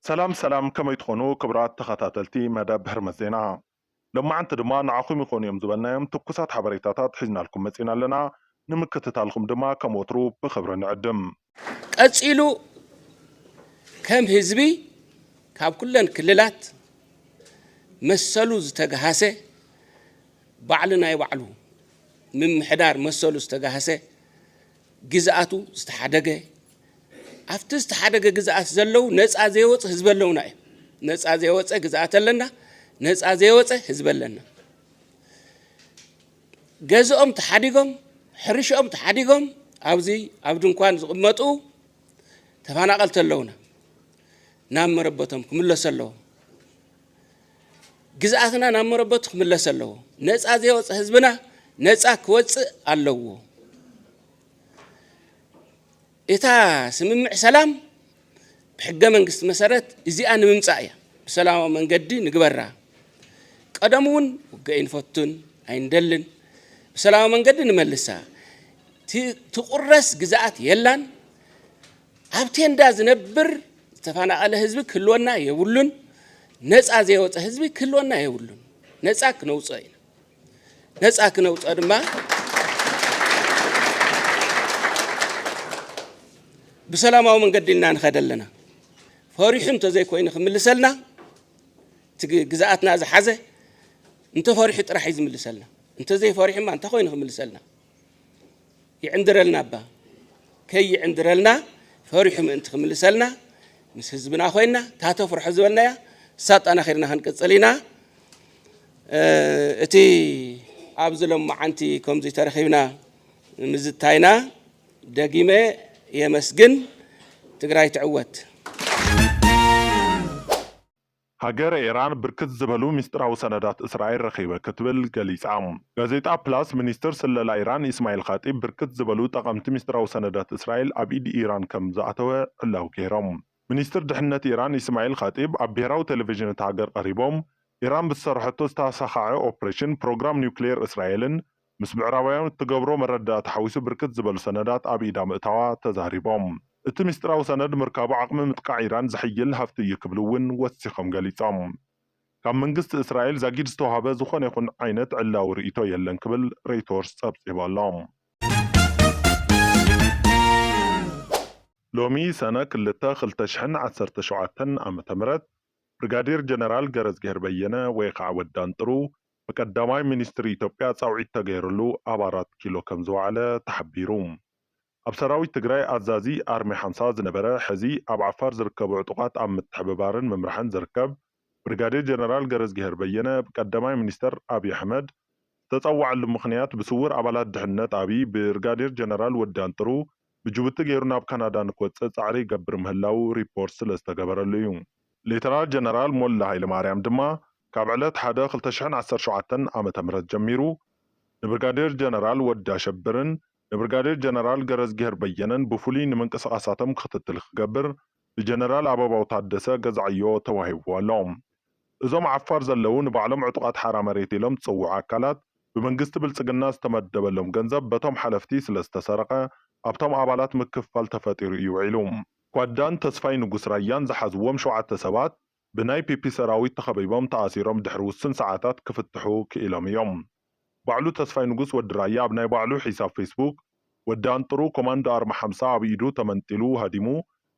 ሰላም ሰላም ከመይ ትኾኑ ክብራት ተኸታተልቲ መደብ ህርመት ዜና ሎማዓንቲ ድማ ንዓኹም ይኾኑ እዮም ዝበልናዮም ትኩሳት ሓበሬታታት ሒዝናልኩም መፂና ኣለና ንምክትታልኹም ድማ ከም ወትሩ ብኽብሪ ንዕድም። ቀፂሉ ከም ህዝቢ ካብ ኩለን ክልላት መሰሉ ዝተግሃሰ ባዕሉ ናይ ባዕሉ ምምሕዳር መሰሉ ዝተግሃሰ ግዝኣቱ ዝተሓደገ ኣብቲ ዝተሓደገ ግዝኣት ዘለው ነፃ ዘይወፅ ህዝቢ ኣለውና እዩ። ነፃ ዘይወፀ ግዝኣት ኣለና፣ ነፃ ዘይወፀ ህዝቢ ኣለና። ገዝኦም ተሓዲጎም ሕርሽኦም ተሓዲጎም ኣብዚ ኣብ ድንኳን ዝቕመጡ ተፈናቐልቲ ኣለውና ናብ መረበቶም ክምለሱ ኣለዎም። ግዝኣትና ናብ መረበቱ ክምለስ ኣለዎ። ነፃ ዘይወፀ ህዝብና ነፃ ክወፅእ ኣለዎ። እታ ስምምዕ ሰላም ብሕገ መንግስቲ መሰረት እዚኣ ንምምፃእ እያ። ብሰላማዊ መንገዲ ንግበራ። ቀደም እውን ውግእ ኣይንፈቱን ኣይንደልን፣ ብሰላማዊ መንገዲ ንመልሳ። ትቑረስ ግዝኣት የላን። ኣብ ቴንዳ ዝነብር ዝተፈናቐለ ህዝቢ ክህልወና የብሉን። ነፃ ዘይወፀ ህዝቢ ክህልወና የብሉን። ነፃ ክነውፅኦ ኢና። ነፃ ክነውፅኦ ድማ ብሰላማዊ መንገዲ ኢልና ንኸደ ኣለና። ፈሪሑ እንተዘይኮይኑ ክምልሰልና እቲ ግዝኣትና ዝሓዘ እንተፈሪሑ ጥራሕ እዩ ዝምልሰልና። እንተዘይፈሪሑማ እንታይ ኮይኑ ክምልሰልና? ይዕንድረልና እባ ከይዕንድረልና ፈሪሑ ምእንቲ ክምልሰልና ምስ ህዝብና ኮይና እታ ተፍርሖ ዝበልናያ ሳጣና ከድና ክንቅፅል ኢና እቲ ኣብዚ ሎማዓንቲ ከምዚ ተረኺብና ምዝታይና ደጊመ የመስግን። ትግራይ ትዕወት! ሃገረ ኢራን ብርክት ዝበሉ ሚስጥራዊ ሰነዳት እስራኤል ረኺበ ክትብል ገሊጻ። ጋዜጣ ፕላስ፣ ሚኒስትር ስለላ ኢራን ኢስማዒል ኻጢብ ብርክት ዝበሉ ጠቐምቲ ሚስጥራዊ ሰነዳት እስራኤል ኣብ ኢድ ኢራን ከም ዝኣተወ ዕላዊ ገይሮም። ሚኒስትር ድሕነት ኢራን ኢስማዒል ኻጢብ ኣብ ብሄራዊ ቴሌቪዥን እታ ሃገር ቀሪቦም፣ ኢራን ብዝሰርሐቶ ዝተሳኻዐ ኦፕሬሽን፣ ፕሮግራም ኒውክሌር እስራኤልን ምስ ምዕራባውያን እትገብሮ መረዳእታ ሓዊሱ ብርክት ዝበሉ ሰነዳት ኣብ ኢዳ ምእታዋ ተዛሪቦም። እቲ ሚስጢራዊ ሰነድ ምርካቡ ዓቕሚ ምጥቃዕ ኢራን ዘሐይል ሃፍቲ እዩ ክብሉ እውን ወሲኾም ገሊፆም። ካብ መንግስቲ እስራኤል ዛጊድ ዝተውሃበ ዝኾነ ይኹን ዓይነት ዕላዊ ርእይቶ የለን ክብል ሬይቶርስ ፀብፂቡ ኣሎ። ሎሚ ሰነ ክልተ ክልተ ሽሕን ዓሰርተ ሸውዓተን ዓመተ ምህረት ብርጋዴር ጀነራል ገረዝግሄር በየነ ወይ ከዓ ወዲ ኣንጥሩ ብቀዳማይ ሚኒስትር ኢትዮጵያ ፃውዒት ተገይርሉ ኣብ ኣራት ኪሎ ከምዝወዓለ ተሓቢሩ። ኣብ ሰራዊት ትግራይ ኣዛዚ ኣርሚ ሓምሳ ዝነበረ ሕዚ ኣብ ዓፋር ዝርከቡ ዕጡቓት ኣብ ምትሕብባርን ምምራሕን ዝርከብ ብርጋዴር ጀነራል ገረዝጊሄር በየነ ብቀዳማይ ሚኒስትር ኣብይ ኣሕመድ ዝተፀወዐሉ ምኽንያት ብስውር ኣባላት ድሕንነት ኣብይ ብርጋዴር ጀነራል ወዲ ኣንጥሩ ብጅቡቲ ገይሩ ናብ ካናዳ ንክወጽእ ጻዕሪ ይገብር ምህላዉ ሪፖርት ስለ ዝተገበረሉ እዩ። ሌተናል ጀነራል ሞላ ሃይለማርያም ድማ ካብ ዕለት ሓደ ክልተ ሽሕን ዓሰርተ ሸውዓተን ዓመተ ምህረት ጀሚሩ ንብርጋዴር ጀነራል ወዲ ኣሸብርን ንብርጋዴር ጀነራል ገረዝጊሄር በየነን ብፍሉይ ንምንቅስቓሳቶም ክትትል ክገብር ብጀነራል ኣበባው ታደሰ ገዛዕዮ ተዋሂብዎ ኣሎ። እዞም ዓፋር ዘለው ንባዕሎም ዕጡቓት ሓራ መሬት ኢሎም ዝፅውዑ ኣካላት ብመንግስቲ ብልፅግና ዝተመደበሎም ገንዘብ በቶም ሓለፍቲ ስለዝተሰረቐ ኣብቶም ኣባላት ምክፍፋል ተፈጢሩ እዩ ውዒሉ። ጓዳን ተስፋይ ንጉስ ራያን ዝሓዝዎም ሸውዓተ ሰባት ብናይ ፒፒ ሰራዊት ተኸቢቦም ተኣሲሮም ድሕሪ ውስን ሰዓታት ክፍትሑ ክኢሎም እዮም። ባዕሉ ተስፋይ ንጉስ ወዲ ራያ ኣብ ናይ ባዕሉ ሒሳብ ፌስቡክ ወዲ ኣንጥሩ ኮማንዶ ኣርማ ሓምሳ ኣብ ኢዱ ተመንጢሉ ሃዲሙ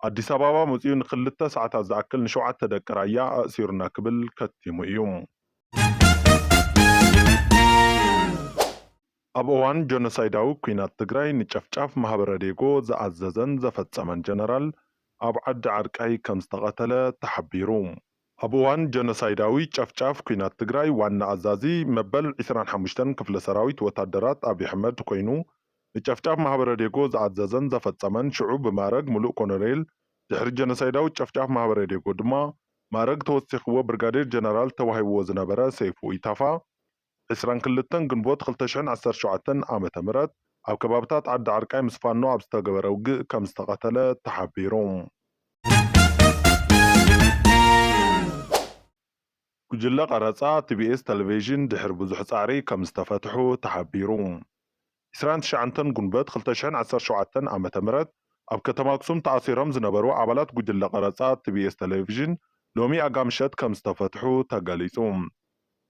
ኣዲስ ኣባባ መጺኡ ንክልተ ሰዓታት ዝኣክል ንሸውዓተ ደቂ ራያ ኣእሲሩና ክብል ከቲሙ እዩ። ኣብ እዋን ጆኖሳይዳዊ ኲናት ትግራይ ንጨፍጫፍ ማህበረዴጎ ዝኣዘዘን ዘፈፀመን ጀነራል ኣብ ዓዲ ዓርቃይ ከምዝተቐተለ ተሓቢሩ። ኣብ እዋን ጆኖሳይዳዊ ጨፍጫፍ ኲናት ትግራይ ዋና ኣዛዚ መበል ዕስራን ሓሙሽተን ክፍለ ሰራዊት ወታደራት ኣብይ ኣሕመድ ኮይኑ ንጨፍጫፍ ማህበረዴጎ ዝኣዘዘን ዘፈፀመን ሽዑ ብማእረግ ሙሉእ ኮሎኔል ድሕሪ ጆኖሳይዳዊ ጨፍጫፍ ማህበረዴጎ ድማ ማእረግ ተወሲኽዎ ብርጋዴር ጀነራል ተዋሂብዎ ዝነበረ ሰይፉ ኢታፋ ዕስራን ክልተን ግንቦት ክልተ ሽሕን ዓሰርተ ሸውዓተን ዓመተ ምህረት ኣብ ከባብታት ዓዲ ዓርቃይ ምስ ፋኖ ኣብ ዝተገበረ ውግእ ከም ዝተቐተለ ተሓቢሩ። ጉጅለ ቀረጻ፣ ቲቢኤስ ተለቬዥን ድሕሪ ብዙሕ ጻዕሪ ከም ዝተፈትሑ ተሓቢሩ። ዕስራን ትሽዓንተን ጉንበት ክልተ ሽሕን ዓሰርተ ሸውዓተን ዓመተ ምህረት ኣብ ከተማ ኣክሱም ተኣሲሮም ዝነበሩ ኣባላት ጉጅለ ቀረፃ ቲቢኤስ ተሌቬዥን ሎሚ ኣጋምሸት ከምዝተፈትሑ ተገሊፁ።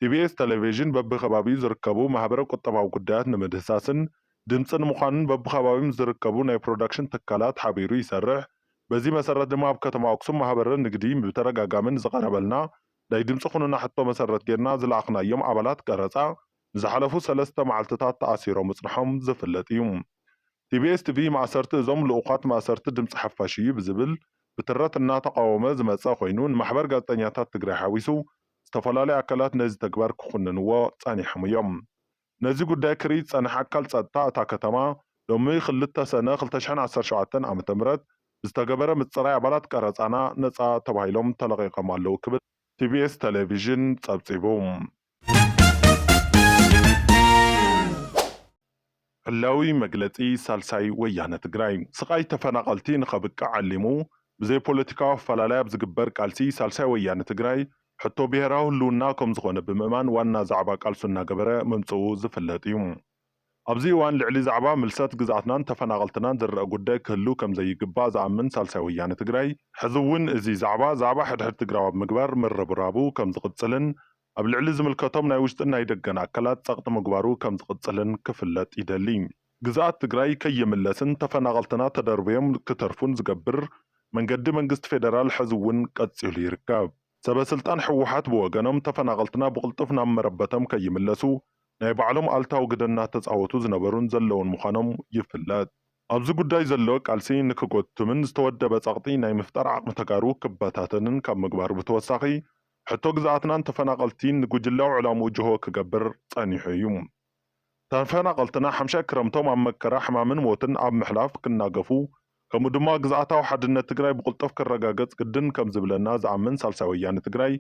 ቲቢኤስ ተሌቬዥን በቢከባቢኡ ዝርከቡ ማህበረ ቁጠባዊ ጉዳያት ንምህድህሳስን ድምፂ ንምዃንን በቢከባቢኦም ንዝርከቡ ናይ ፕሮዳክሽን ትካላት ሓቢሩ ይሰርሕ። በዚ መሰረት ድማ ኣብ ከተማ ኣክሱም ማህበረ ንግዲ ብተደጋጋሚ ንዝቐረበልና ናይ ድምፂ ኩኑና ሕቶ መሰረት ገይርና ዝለኣኽናዮም ኣባላት ቀረፃ ንዝሓለፉ ሰለስተ መዓልቲታት ተኣሲሮም ምጽንሖም ዝፍለጥ እዩ። ኢቢኤስ ቲቪ ማእሰርቲ እዞም ልኡዃት ማእሰርቲ ድምጺ ሓፋሽ እዩ ብዝብል ብትረት እናተቓወመ ዝመጸ ኮይኑ ንማሕበር ጋዜጠኛታት ትግራይ ሓዊሱ ዝተፈላለዩ ኣካላት ነዚ ተግባር ክኹንንዎ ጸኒሖም እዮም። ነዚ ጉዳይ ክሪኢ ዝጸንሐ ኣካል ጸጥታ እታ ከተማ ሎሚ ክልተ ሰነ ክልተ ሽሕን ዓሰርተ ሸውዓተን ዓመተ ምህረት ብዝተገበረ ምጽራይ ኣባላት ቀረጻና ነጻ ተባሂሎም ተለቒቖም ኣለዉ ክብል ቲቢኤስ ተሌቪዥን ጸብጺቡ። ዕላዊ መግለጺ ሳልሳይ ወያነ ትግራይ። ስቓይ ተፈናቐልቲ ንኸብቅዕ ዓሊሙ ብዘይ ፖለቲካዊ ኣፈላላይ ኣብ ዝግበር ቃልሲ ሳልሳይ ወያነ ትግራይ ሕቶ ብሄራዊ ህልውና ከምዝኾነ ብምእማን ዋና ዛዕባ ቃልሱ እናገበረ ምምፅኡ ዝፍለጥ እዩ። ኣብዚ እዋን ልዕሊ ዛዕባ ምልሰት ግዝኣትናን ተፈናቐልትናን ዝረኣ ጉዳይ ክህሉ ከም ዘይግባእ ዝኣምን ሳልሳይ ወያነ ትግራይ ሕዚ እውን እዚ ዛዕባ ዛዕባ ሕድሕድ ትግራዊ ኣብ ምግባር ምርብራቡ ከም ዝቕፅልን ኣብ ልዕሊ ዝምልከቶም ናይ ውሽጥን ናይ ደገን ኣካላት ፀቕጢ ምግባሩ ከም ዝቕፅልን ክፍለጥ ይደሊ። ግዝኣት ትግራይ ከይምለስን ተፈናቐልትና ተደርብዮም ክተርፉን ዝገብር መንገዲ መንግስቲ ፌደራል ሕዚ እውን ቀፂሉ ይርከብ። ሰበስልጣን ህወሓት ብወገኖም ተፈናቐልትና ብቕልጡፍ ናብ መረበቶም ከይምለሱ ናይ ባዕሎም ኣሉታዊ ግደ እናተፃወቱ ዝነበሩን ዘለዉን ምዃኖም ይፍለጥ። ኣብዚ ጉዳይ ዘሎ ቃልሲ ንክጎትምን ዝተወደበ ፀቕጢ ናይ ምፍጣር ዓቕሚ ተጋሩ ክበታተንን ካብ ምግባሩ ብተወሳኺ ሕቶ ግዝኣትናን ተፈናቐልቲን ንጉጅላዊ ዕላምኡ ጅሆ ክገብር ፀኒሑ እዩ። ተፈናቐልትና ሓምሻይ ክረምቶም ኣብ መከራ፣ ሕማምን ሞትን ኣብ ምሕላፍ ክናገፉ ከምኡ ድማ ግዝኣታዊ ሓድነት ትግራይ ብቕልጡፍ ክረጋገፅ ግድን ከምዝብለና ዝኣምን ሳልሳይ ወያነ ትግራይ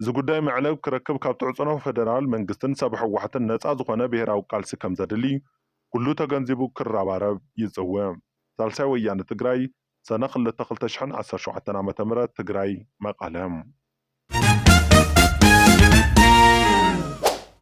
እዚ ጉዳይ መዕለቢ ክረክብ ካብ ትዕፅኖ ፌደራል መንግስትን ሰበ ህወሓትን ነፃ ዝኾነ ብሄራዊ ቃልሲ ከምዘድሊ ኩሉ ተገንዚቡ ክረባረብ ይፅውዕ። ሳልሳይ ወያነ ትግራይ ሰነ ክልተ ክልተ ሽሕን ዓሰርተ ሸውዓተን ዓመተ ምህረት ትግራይ፣ መቐለ።